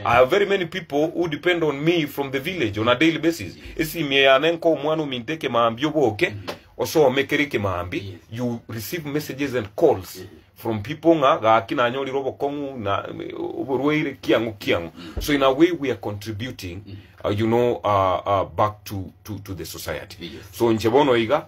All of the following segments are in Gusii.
I have very many people who depend on me from the village on a daily basis, esimie yane nko omwana ominto ekemambia oboke osome kere ekemambi, you receive messages and calls from people ng'a gaki nanyorire obokong'u na oborwaire kiang'o kiang'o. So in a way we are contributing uh, you know uh, uh, back to, to, to the society. So nche bono iga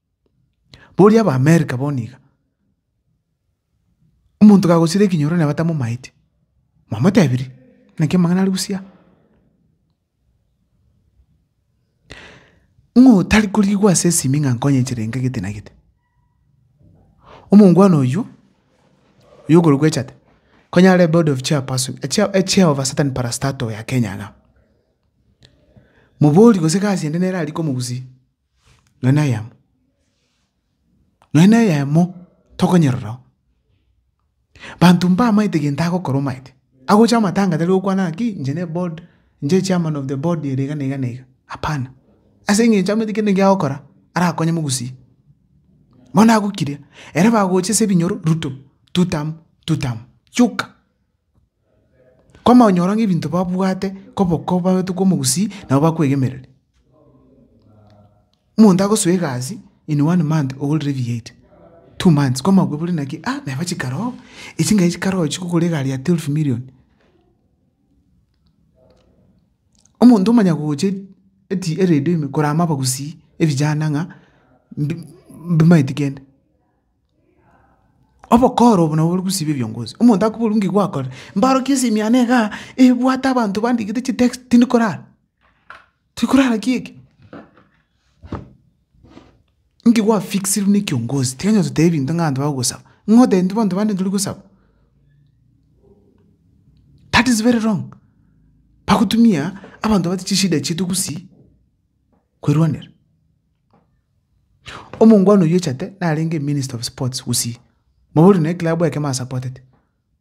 Boria Abaamerika bono iga, omonto kagosira ekenyoro naye batamomaeti, mwamotebirie? Naki amang'ana aria bosio aa. Ng'o otari korigwa ase esimi ng'a nkonye nchera enke gete na gete? Omongwana oyio, oyio okorokwa Echate, konya are board of chairperson echia- echia of a certain parastatal ya Kenya iga. Moborie gose egasi ende nere aria komogusi. Nonya na eyemo, nonya na eyemo tokonyerora oo. Banto mbamaete gento agokora omanyete, agocha amatanga tari gokwana ng'a ki inche ne board, inche chairman of the board ere iga na iga na iga, hapana. Ase eng'encho amanyete kende eke agokora arakonye mogusia. Bono nagokiria, ere bagocha ase ebinyoro Ruto, two term, two term, yoka. Komonyora ng'a ebinto babwate koboko babetu komogusii nabo bakwegemereria. Omonto agosoa egasi in one month ogorire ebiya ebi, two months komaokwa bore naki aa naye bochia karoo echi nkachi chikaroo chio kogora egari ya twelve million. Omonto omanya gocha eti eredio ime korama abagusii ebijana ng'a mbi mbimaeti kende. Obokoro obo nabwo bori gosiba ebiongozi, omonto akoboria ng'ai gwakorire, mbarokie esimi yane igaa, ebwate abanto bandikete chitext tindi korara, tiri korara ki eke? Ng'ai gwafikiserwe ne ekiongozi, tiga onye gototebia ebinto ng'a abanto bagosaba, ng'ai otebe intwe abanto bande tori gosaba? That is very wrong, bagotumia abanto babwate chishida chiaito gosii, kwerwanera. Omongwana oyio ochete narenge minister of sports Gusii, mabori na eclub ekemo asapotete,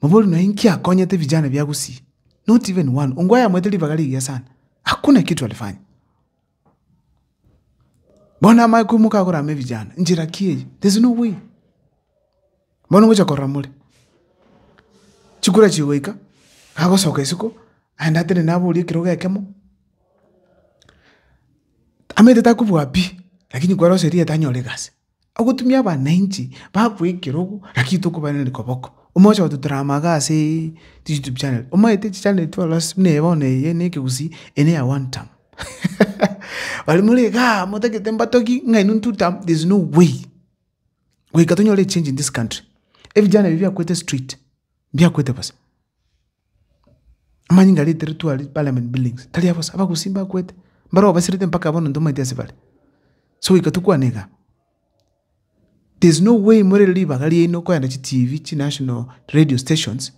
mabori na inki akonyete vijana via Gusii, not even one, Ongwae amoete ribaga rigiya sana, hakuna kitu alifanya. Bono amanye koimoka agore ame vijana, njera ki eye? There's no way. Bono ngocha korora more, chikura chigoika, agosoka isiko, aende atenene aborie ekerogo ekemo. Tamenyete takobua pi, lakini kware gose erieta anyore egasi, agotumia abananchi bakoe ekerogo lakini tokobareneri koboko, omogocha gotebi tore amaga asee chi YouTube channel, omanyete chi channel echio ororo ase buna eye bono eye ne ekegusii eye ne eya one tam baria more igaa motagete mbatogie ng'a inwe two tam there is no way goika tonyore echange in this country, ebijana ebi biakwete street, mbiakwete bosa. Amanyinga areteretwe aria parliament buildings tari abosa, abagusii mbakwete, mbarabwo basirete mpaka bono ntomaeti ase bare. Ase goika tokwane igaa, there is no way more ribaga riaino korenda chi TV, chi national radio stations,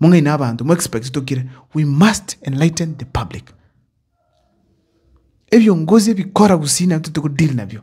mong'aini abanto, mo expect tokire, we must enlighten the public. Ebiongozi ebikora gusii nabinto tokodeal nabio.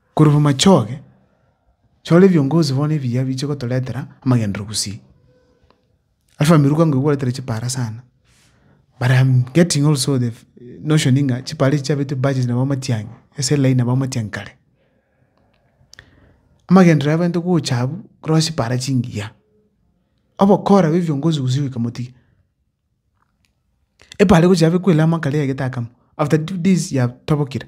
Korwa bw'amachoge, chora ebiongozi bono ebiya biche gotoretera amagenderero gusii. Alpha Miruka ngo igweretere chipara sana but am getting also the notion ng'a chipara echi chiabetwe budget nabo amatiang'i ase line nabo amatiang'i kare. Amagenderero abeanto gocha abwo korwa ase chipara chingiya, obokora bwa ebiongozi gusii goika motiga. Epara egocha yabekwela amo akare egete akamo after two days yatobokire.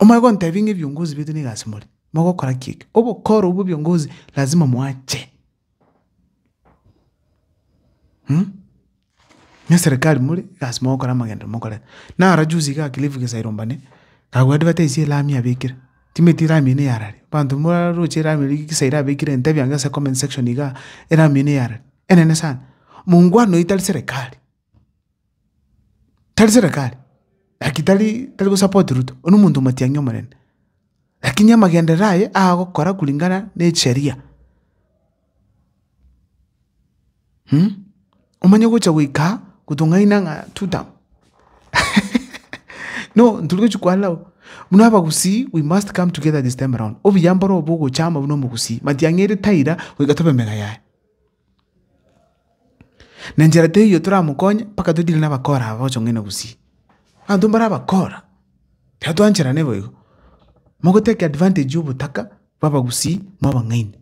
Omanye gontebia ng'a ebiongozi baito nigo ase more, mogokora ki eke? Obokoro obwo bwa ebiongozi lazima moache. na eserekari more nigo ase mogokora amagenderero mokorera. Naro juzi iga Cliff Gesairo Mbane, kagwa advertise elami abekire, timanyeti elami eye neyara ree? Abanto mbaroche elami eria Gesairo abekire ntebia inga ase comment section igaa, elami eye neyara ree? Enene sana, mongwana oyo tari serekari. Tari serekari, like tari tari gosupport Ruto, oyio nomonto omatiang'i omonene, lakini amagenderero aye agokora kulingana ne echesheria, omanye gocha goika aa gotong'aina ng'a two term no ntori gochia koanera bo, buna abagusii we must come together this time around, obuya mboro obo ogochama buna omogusii, matiang'i ere taira goika tobe mega yaye. Na enchera teiyo toramokonye mpaka toitirane abakora aba bachong'aine gusii. Abanto mbare abakora, ekero twancherane bo igo, mogoteki advantage ya obotaka bwa abagusii mwa abang'aini.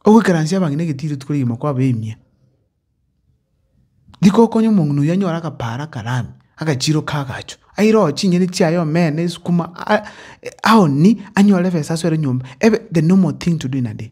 Ogoikaransia abang'ina egetiro rituko rigima kwabaimia, rikokonya omong'ina oyio anyore agaparo akarame, agachiro ka agacho, aire oo chinyeni chiaye omena, esukuma aa aoni anyore ebesa asore nyomba, ebe the normal thing to do in a day.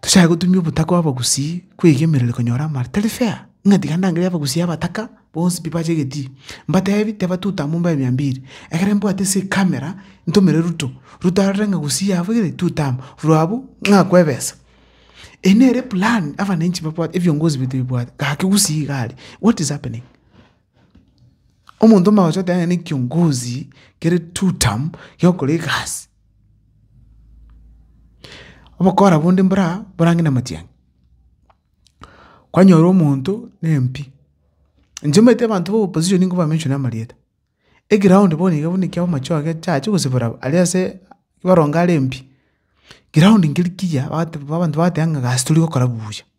Tochake gotumia obotaka bw'abagusii kweiga emerero ere konyora amare. Tari fair, ng'a tiga ndangere abagusii abataka, bonsi pi bache egetii. Mbatebi, teba tuta amo mbae mia mbiri. Ekero mbwate ase ecamera, ntomere Ruto. Ruto arore ng'a gusii yabo igere, tuta amo. Rwa abwo, ng'akwe ebesa. Eye nere eplan abananchi babwate, ebiongozi baito bibwate. Gaki gusii iga are. What is happening? Omonto omogoso oteba ng'a nekiongozi kere two term giokora egasi. Obokora bonde mbore aa borange na amatiang'i, kwanyora omonto na MP, inche omanyete abanto ba opposition nigo ba mention amarieta, eground bono iga buna ekiagera amache aa chiacha gosibora aria ase baronge are MP, ground nkeri kiya bagote abanto bagoteeba ng'a egasi tori gokora buya.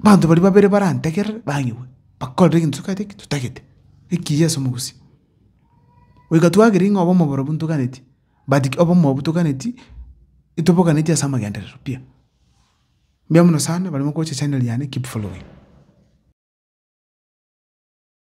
Abanto baria babere barantegerere bang'igwe, bakorere egento tokorete ki? Totagete, ekiya ase omogusia. Goika twagera ng'a obe omoboro buna toganeti, but ki obe omoyo buna toganeti, etobokaneti ase amagenderero pi. Mbuya mono sana, barimo gocha channel yane, keep following.